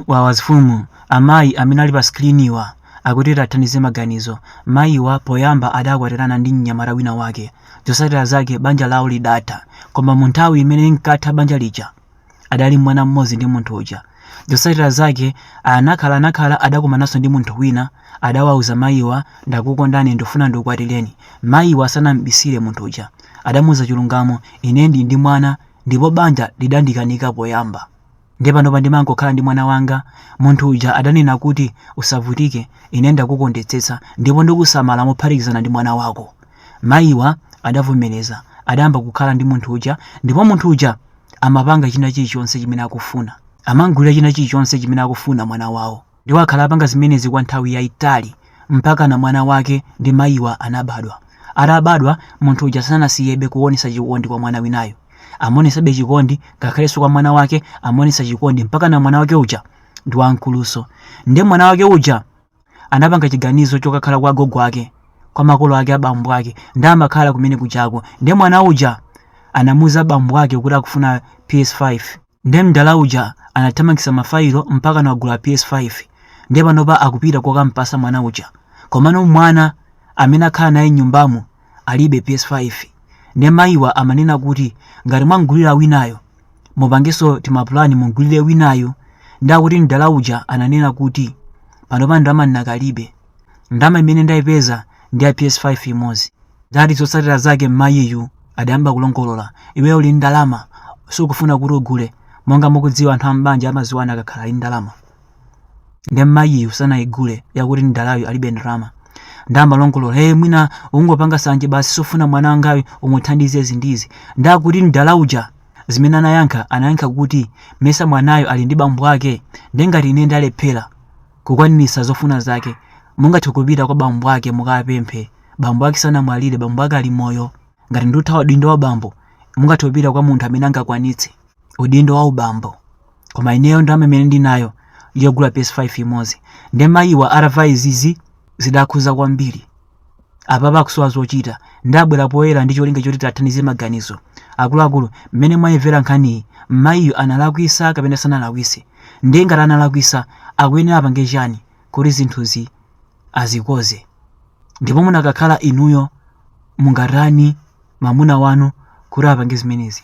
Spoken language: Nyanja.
wawa mfumu amayi amene ali pa screenwa akuti tiwathandize maganizo mayiwa poyamba adakwatirana ndi mnyamata wina wake zotsatira zake banja lawo lidatha koma munthawi imene linkatha banja lija adali ndi mwana mmodzi ndi munthu uja zotsatira zake anakhala anakhala adakumananso ndi munthu wina adawauza mayiwa ndakukondani ndifuna ndikukwatireni mayiwa sanambisire munthu uja adamuuza chilungamo ine ndili ndi mwana ndipo banja lidandikanika poyamba Ndiye panopa ndimangokhala ndi mwana wanga. Munthu uja adanena kuti, Usavutike, ine ndakukondetsetsa ndipo ndikusamala mophatikizana ndi mwana wako. Mayiwa adavomereza. Adayamba kukhala ndi munthu uja ndipo munthu uja amapanga china chilichonse chimene akufuna. Amamgulira china chilichonse chimene akufuna mwana wawo. Ndipo akhala apanga zimenezi kwa nthawi yaitali mpakana mwana wake ndi mayiwa anabadwa. Atabadwa, munthu uja sanasiyebe kuonetsa chikondi kwa mwana winayo. Amaonetsabe chikondi ngakhalenso kwa mwana wake amaonetsa chikondi mpakana mwana wake uja ndi wamkulunso. Ndiye mwana wake uja anapanga chiganizo chokakhala kwa agogo ake, kwa makolo ake a bambo ake. Ndiye amakhala kumene kujako. Ndiye mwana uja anawauza bambo ake kuti akufuna PS5. Nde mdala uja anathamangisa ma fayilo mpakana wagula PS5 nde panopa akupita kokampasa mwana uja komano mwana amene akhala naye m'nyumbamo alibe PS5 nde mayiwa amanena kuti ngati mwamgulira winayo mupangenso timapulani mumgulire winayu nde akuti mdala uja ananena kuti panopa ndalama ndinakalibe ndalama imene ndaipeza ndi ya PS5 imodzi. Nde akuti zotsatira zake mmayiyu adayamba kulongolola. Iweyo uli ndi ndalama, sukufuna kuti ugule. Monga mukudziwa anthu am'banja amadziwana akakhala ali ndi ndalama. Nde mmayiyu sanaigule yakuti mdalayu alibe ndalama. Nde amalongolola, hey, mwina ungopanga sanje basi sukufuna mwana wangayu umuthandize izi ndi izi. Nde akuti mdala uja zimene anayankha anayankha kuti mesa mwanayo ali ndi bambo ake nde ngati ine ndalephera kukwaniritsa zofuna zake. Mungathe kupita kwa bambo ake mukawapemphe. Bambo ake sanamwalire, bambo ake ali moyo. Ngati ndikuthawa udindo wa bambo, mungathe kupita kwa munthu amene angakwanitse udindo wa ubambo. Koma ineyo ndalama imene ndinayo ndi yogula PS5 imodzi. Nde mayiwa atamva izizi zidawakhudza kwambiri. apapa akusowa zochita nde abwera poyera ndi cholinga choti tiwathandize maganizo akuluakulu mmene mwayimvera nkhaniyi mmayiyo analakwisa kapena sanalakwise ndiye ngati analakwisa akuyenera apange chani kuti zinthuzi azikoze ndipo munakakhala inuyo mungatani mamuna wanu kuti apange zimenezi